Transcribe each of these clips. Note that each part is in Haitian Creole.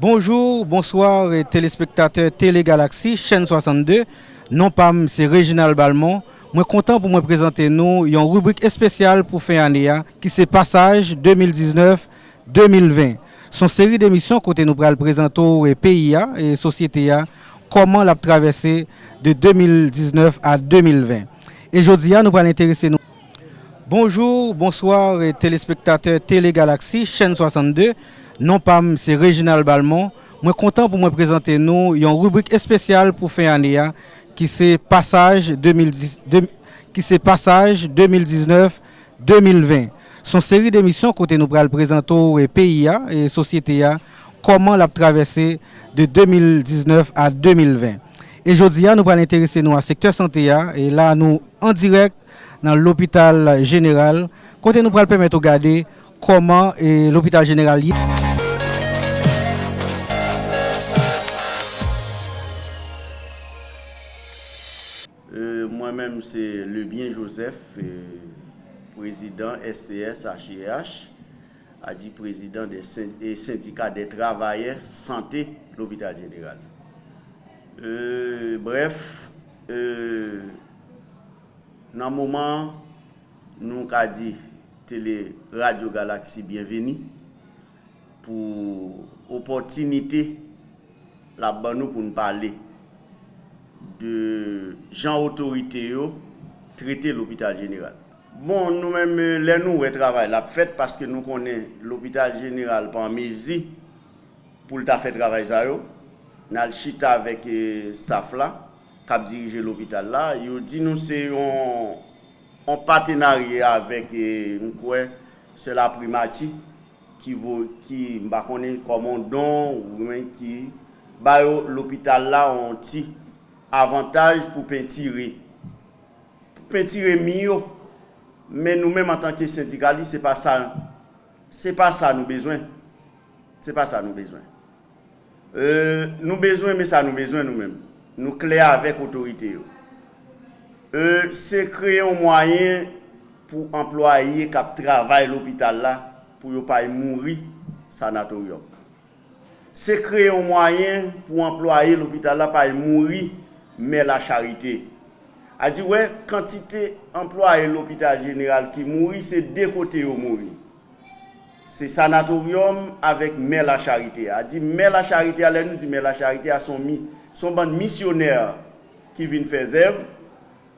Bonjour, bonsoir telespektatè Tele Galaxy chèn 62, non pa m se Reginald Balmont, mwen kontan pou mwen prezante nou yon ribrik espesyal pou fen ane a ki se Pasaj 2019. 2020. S on seri de emisyon kote nou pral prezante w peyi a e sosyete a kòman l ap travèse de 2019 a 2020. E jodi a nou pral enterese nou. Bonjour, bonsoir telespektatè Télé Galaxie chèn 62, non pa m se Reginald Balmont, mwen kontan pou mwen prezante nou yon ribrik espesyal pou fen ane a ki se pasaj 2019 2020. Son seri demisyon kote nou pral prezante w peyi a, sosyete a, kòman lap travèse de 2019 a 2020. E jodi a nou pral enterese nou a sektè sante a, e la nou an dirèk nan lopital jeneral kote nou pral pèmèt ou gade kòman lopital jeneral ye. Mwen menm se Lebyen Joseph, prezidan STSHEH, adi prezidan de sendika de travayè sante lopital jeneral. Brèf, nan moman an, nou ka di tele radyo galaksi byenveni. pou opòtinite l ap ban nou pou n pale de jan otorite yo trete lopital jeneral. Bon, nou menm lè nou wè travay la ap fèt paske nou konnen lopital jeneral pa an mezi pou l ta fè travay sa yo, n al chita avèk staff la k ap dirije lopital la, yo di nou se yon an patenarye avèk m kwè se la primati ki voye ki m pa konnen kòman don oubyen ki ba yo lopital la yon ti avantaj pou pentire pou pentire mi yo men nou menm antanke sendikalis se pa sa se pa sa nou bezwen se pa sa nou bezwen. Eee nou bezwen men sa nou bezwen nou menm nou klè avèk otorite yo eee se kreye yon mwayen pou anplwaye k ap travay lopital la pou yo pa mouri sanatoryòm se kreye yon mwayen pou anplwaye lopital la pa mouri mè lacharite a di wè kantite anplwaye lopital jeneral ki mouri se de kote yo mouri. Se Sanatoryòm avèk Mè Lacharite a. Di Mè Lacharite a, lè nou di Mè Lacharite a, son mi, son bann misyonè ki vin fè zèv.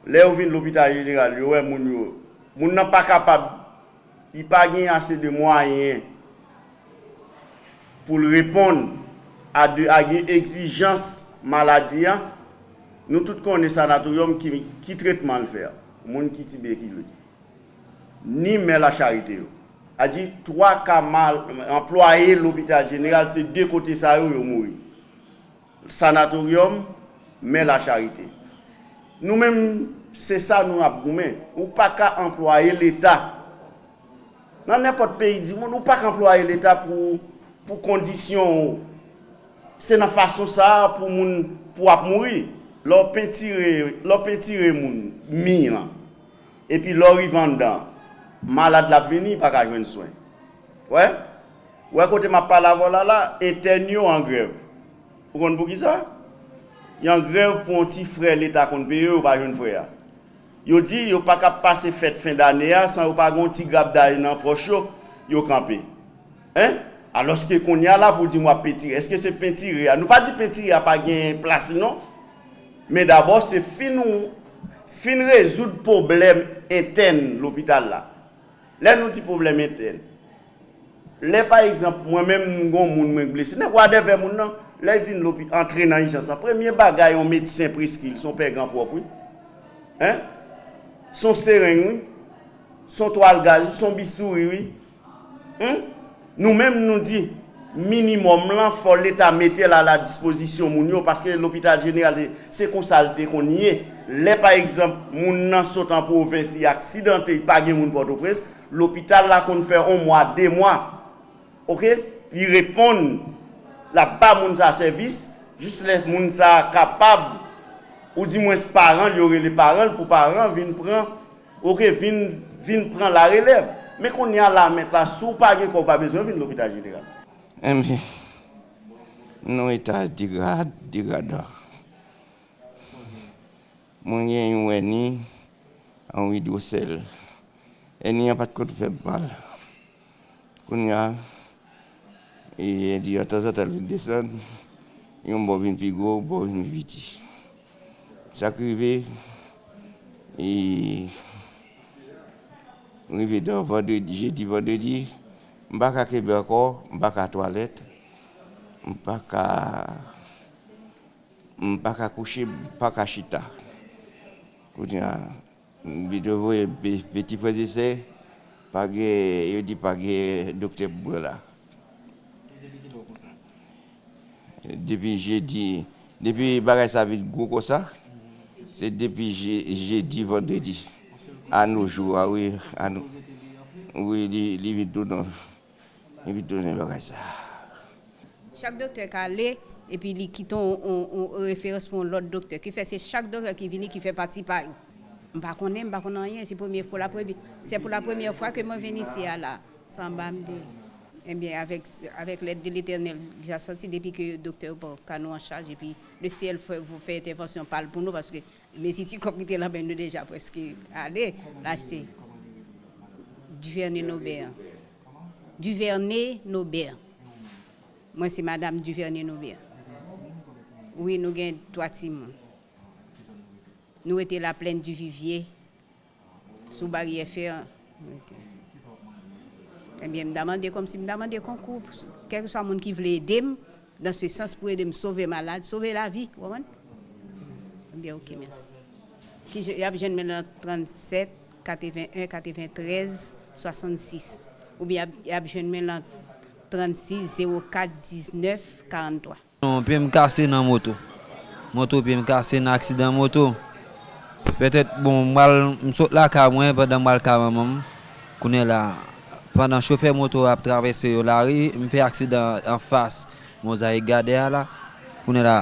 Lè yo vin Lopital Jeneral, yo wè moun yo, moun nan pa kapab, li pa gen ase de mwayen pou l reponn a de a gen egzijans maladi a. Nou tout konnen Sanatoryòm ki tretman l fè moun ki tibekilez. ni Mè Lacharite yo. A di twa ka mal anplwaye lopital jeneral se de kote sa yo yo mouri. Sanatoryòm, Mè Lacharite. Nou menm se sa nou ap goumen. Ou pa ka anplwaye leta nan nenpòt peyi dimonn ou pa ka anplwaye leta pou kondisyon ou. Se nan fason sa a pou moun pou ap mouri. Lè w pentire moun mi lan. Epi lè w rive anndan, malad la ap vini, li pa ka jwenn swen. Wè? Ou wè kote m ap pale avè w la la? Entèn yo an grèv. Ou konn poukisa? Y an grèv pou yon ti frè Leta konn peye yo pa jwenn frè a. Yo di yo pa ka pase fèt fendane a san yo pa gen yon ti grapday nan pòch yo, yo kanpe. Hein? Aloske kounye a la pou di m wap pentire eske se pentire a nou pa di pentire a pa gen plas li non men dabò se fin ou fin rezoud pwoblèm entèn lopital la lè nou di pwoblèm entèn lè pa egzanp mwen menm m gon moun mwen k blese nèg wa dèvè moun nan lè vin lopi antre nan ijans lan premye bagay yon medsen preskri l son pè gan pwòp wi hein son sereng wi son twal gaz wi son bistouri wi Humm nou menm nou di minimum lan fò leta metel a la dispozisyon moun yo paske lopital jeneral se konsal te konn ye lè pa egzanp moun nan sot an pwovens li aksidante pa gen moun pòtoprens lopital la konn fè on mwa de mwa ok li reponn lap ba moun sa sèvis jis lè moun sa kapab ou di mwens paranl yo rele paranl pou paran vin pran. Ok vin vin pran la relèv. Men konnya la mèt la si w pa gen kò w pa bezwen vin lopital jeneral. Enben non eta degra degradan mwen gen yon èni an widwosèl èni an pat konn fè m mal konnya èni an tanzantan li desann yon bò vin pi gwo yon bò vin pi piti. Sak rive rive dan vandredi jedi vandredi m paka kenbe ankò m paka twalèt m paka m paka kouche m paka chita kounye a. M pito voye piti frè e sè pa gen yo di pa gen doktè pou mwen la. E depi kilè w konsa? Depi jedi depi bagay sa vin gwo konsa se depi jedi vandredi a no jou a wi. Wi li vin tou non. Epi tou zen bagay sa a. Chak doktè ka ale epi li kite yon referans pou yon lòt doktè. Ki fè se chak doktè ki vini ki fè pati pa yo. M pa konnen, m pa konn anyen. Se premye fo la premye, sè pou la premyè fwa ke mwen vin isi a la. San ba m di. Ebyen avèk, avèk lèd de Letènèl, ja santi depi ke doktè yo pran ka nou an chaj epi le syèl fè, fè entèvansyon pa l pou nou paske Mesi ti kòb ki te lan men nou deja preske ale l achte Duverne Nobert Duverne Nobert Mwen se madam Duverne Nobert Wi nou gen 3 timoun Nou rete Laplèn Divivye Sou baryè fè an. Ebyen m ta mande kòmsi m ta mande konkou kèlkeswa moun ki vle ede m dan se sans pou ede m sove malad, sove lavi ou konprann? Ebyen ok mèsi. Ki je, y ap jwenn mwen nan 37 81 93 66 oubyen y ap jwenn mwen nan 36 04 19 43. Yon pye m kase nan moto. Moto pye m kase nan aksidan moto. Pètèt bon m pral m sot lakay mwen pandan m pral kay manman m. Kounye la pandan chofè moto ap travèse yon lari m fè aksidan anfas Mozayik Gadè a la. Kounye la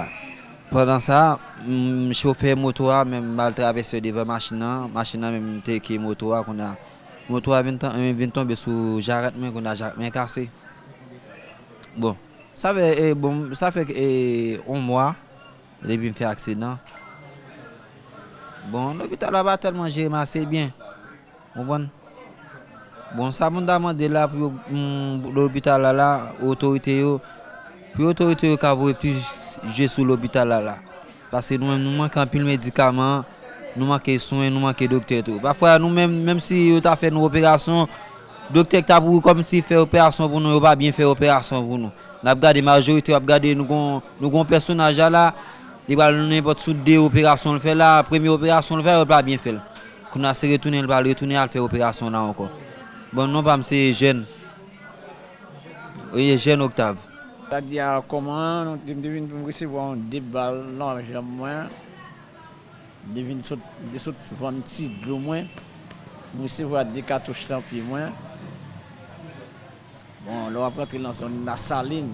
pandan sa chofè moto a menm mal travèse devan machin nan. Machin nan menm teke moto a kounye a. Moto a vin vin tonbe sou jarèt mwen kounye a jarèt mwen kase. Bon. Sa fè bon sa fè on mwa depi m fè aksidan bon lopital la pa tèlman jere m ase byen ou konprann bon sa pou n ta mande la pou lopital la la otorite yo pou otorite yo ka voye plis je sou lopital la la. Paske nou menm nou manke anpil medikaman, nou manke swen, nou manke doktè tou. Pafwa nou menm, menm si yo ta fè nou operasyon, doktè ki ta pou kòmanse fè operasyon pou nou yo pa byen fè operasyon pou nou. N ap gade majorite, w ap gade nou gon nou gon pèsonaj la la, li pral nou nenpòt sou de operasyon l fè la, premye operasyon l fè yo l pa byen fè l. Kounye a se retounen l pral retounen al fè operasyon la ankò. Bon non pa m se Ejèn. Oye jeune Octave. Sak di a koman nou te vin pou m resevwa yon 2 bal nan janm mwen de vin sot de sot vann ti dlo mwen m resevwa 2 katouch nan pye mwen bon lè wap rantre nan zòn la salin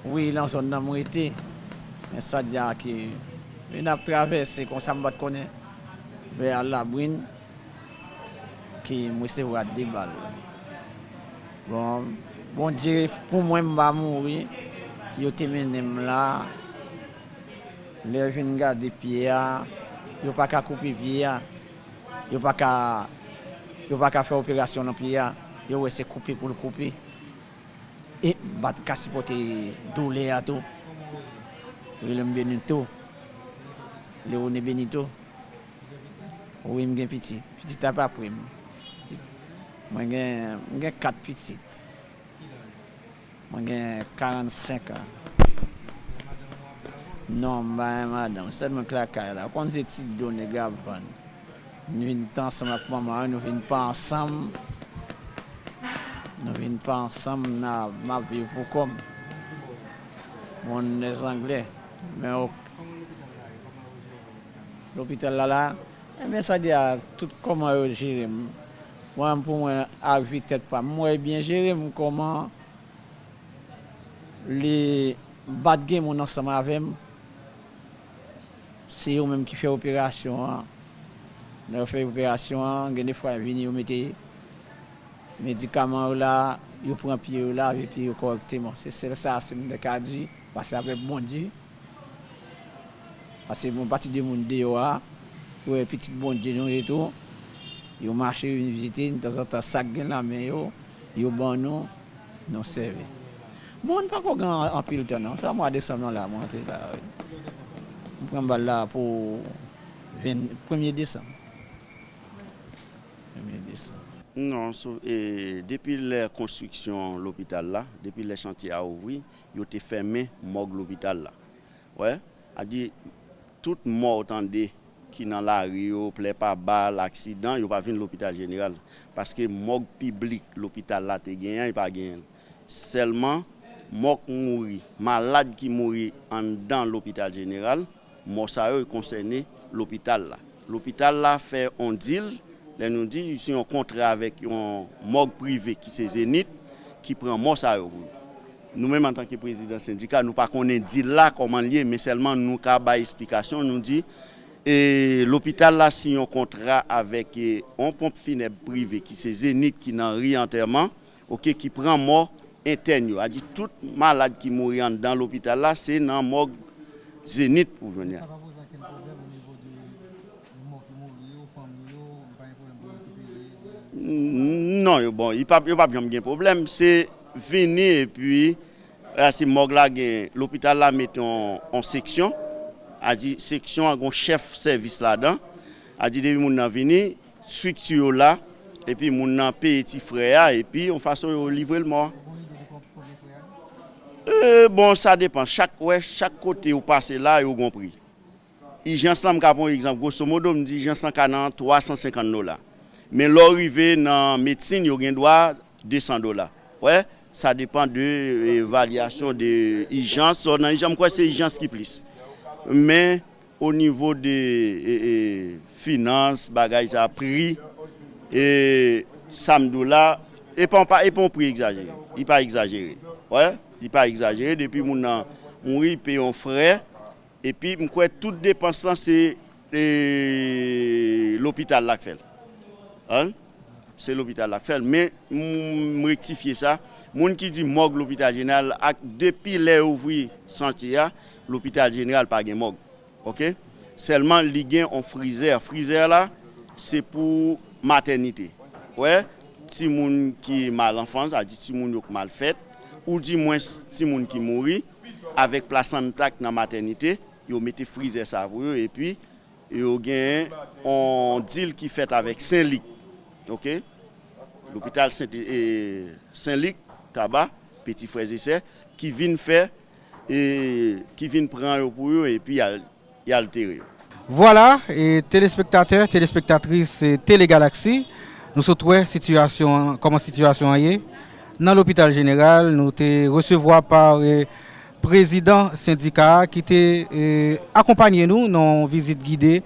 wi nan zòn nan m rete men sa di a ke nap travèse konsa m pat konnen vè al labrin. Ke m resevwa 2 bal. Bon Bondye pou mwen m pa mouri yo te mennen m la lè yo vin gade pye a yo pa ka koupe pye a yo pa ka yo pa ka fè operasyon nan pye a yo wè se koupe pou l koupe e m pa t ka sipòte doulè a tou yo rele m Benito Leone Benito. Wi m gen pitit. Pitit ap apre m. Mwen gen 4 pitit. Mwen gen 45 an. Non m pa gen madanm. Sèl mwen k lakay la. Ou konn se ti do nèg yo ap vann. Nou vin t ansanm ak manman an. Nou vin pa ansanm. Nou vin pa ansanm. M ap viv pou kò m. Bon lè zanglè. Lopital la la ebyen sa di a tout koman yo jerem mwen pou mwen a vi tèt pam m wè byen jerem koman li bat gen moun ansanm avèm se yo menm ki fè operasyon an lè yo fè operasyon an gen de fwa yo vini yo mete medikaman yo la yo pran pye yo lave pye yo kòrèkteman se sèl sa se m te ka di pase avèk Bondye. Pase yon pati de moun deyò a, yo wè pitit Bondye nou ye tou. Yo mache vin vizite n, tanzantan sa k gen nan men yo, yo ban nou, nou sèvi. Bon, n pa ko gen anpil tan non, sa mwa desanm lan la mwen antre la a wi. M pran bal la pou venn, premye desanm. Premye desanm. Non, depi lè konstriksyon lopital la, depi lè chantye a ouvri, Yo te fèmen mòg lopital la. Wè, a di, tout mò w tande ki nan lari yo, plè pa bal, aksidan, yo pa vin lopital jeneral. Paske mòg piblik lopital la te genyen an, yo pa genyen l. Sèlman, mò k mouri, malad ki mouri anndan lopital jeneral. Mò sa yo konsène lopital la. Lopital la fè yon dil, lè nou di se yon kontra avèk yon mòg prive ki se Zenith ki pran mò sa yo pou li. Nou menm antanke prezidan sendika nou pa konnen dil la kòman li ye men sèlman nou ka bay esplikasyon nou di lopital la siyen yon kontra avèk yon ponp finèb prive ki se Zenith ki nan ri Antèman Ok ki pran mò entèn yo a di tout malad ki mouri anndan lopital la se nan mòg Zenith ou jwenn ya. Non yo bon yo pap janm gen pwoblèm se vini epi se mòg la gen lopital la met yon seksyon a di seksyon an gen yon chèf sèvis ladan a di depi moun nan vini Structure yo la epi moun nan peye ti frè a epi yon fason yo livrel mò a. Bon li dwe gen kont premye frè a? Euh bon sa depan chak wè chak kote ou pase la yo gon pri. Ijans lan m ka pran yon egzanp grosso modo m di ijans lan ka nan 350 dola. Men lè w rive nan medsin yo gen dwa 200 dola. Ou wè sa depan de varyasyon de ijans lè w nan ijans m kwè se ijans ki plis. Men. O nivo de finans bagay sa pri e sam diw la epa yon pri egzajere li pa egzajere wè li pa egzajere depi moun nan mouri li peye yon frè epi m kwè tout depans lan se lopital la k fèl an se lopital la k fèl men m rektifye sa moun ki di mòg lopital jeneral ak depi lè yo ouvri sante a Lopital jeneral pa gen mòg ok sèlman li gen on frizè frizè la se pou matènite ou wè ti moun ki mal anfan sa vle di ti moun yo k mal fèt ou di mwens ti moun ki mouri avèk plasanta k nan matènite yo mete frizè sa pou yo epi yo gen on dil ki fèt avèk sen lik ok lopital sent lik taba peti frè e sè ki vin fè e ki vin pran yo pou yo epi y altere yo. Vwala, telespektatè, telespektatris Tele Galaxy, nou sot wè sitiyasyon an, kòman sitiyasyon an ye nan lopital jeneral. Nou te resevwa pa prezidan sendika a ki te akonpanye nou nan yon vizit gide.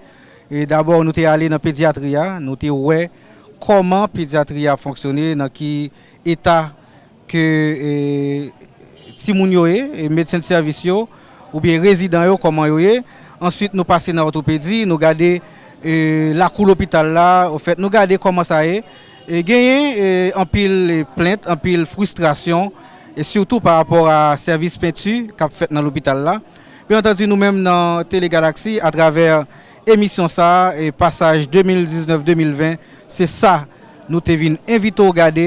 Dabò nou te ale nan pedyatri a, nou te wè kòman pedyatri a ap fonksyone, nan ki eta ke timoun yo ye, medsen de sèvis yo, oubyen rezidan yo kòman yo ye, answit nou pase nan òtopedi, nou gade lakou lopital la, ofèt nou gade kòman sa ye, genyen anpil plent, anpil fristrasyon, sitou pa rapò a sèvis penti k ap fèt nan lopital la, byen antandi nou menm nan Tele Galaxy atravè emisyon sa, pasaj 2019-2020, se sa nou te vin envite w gade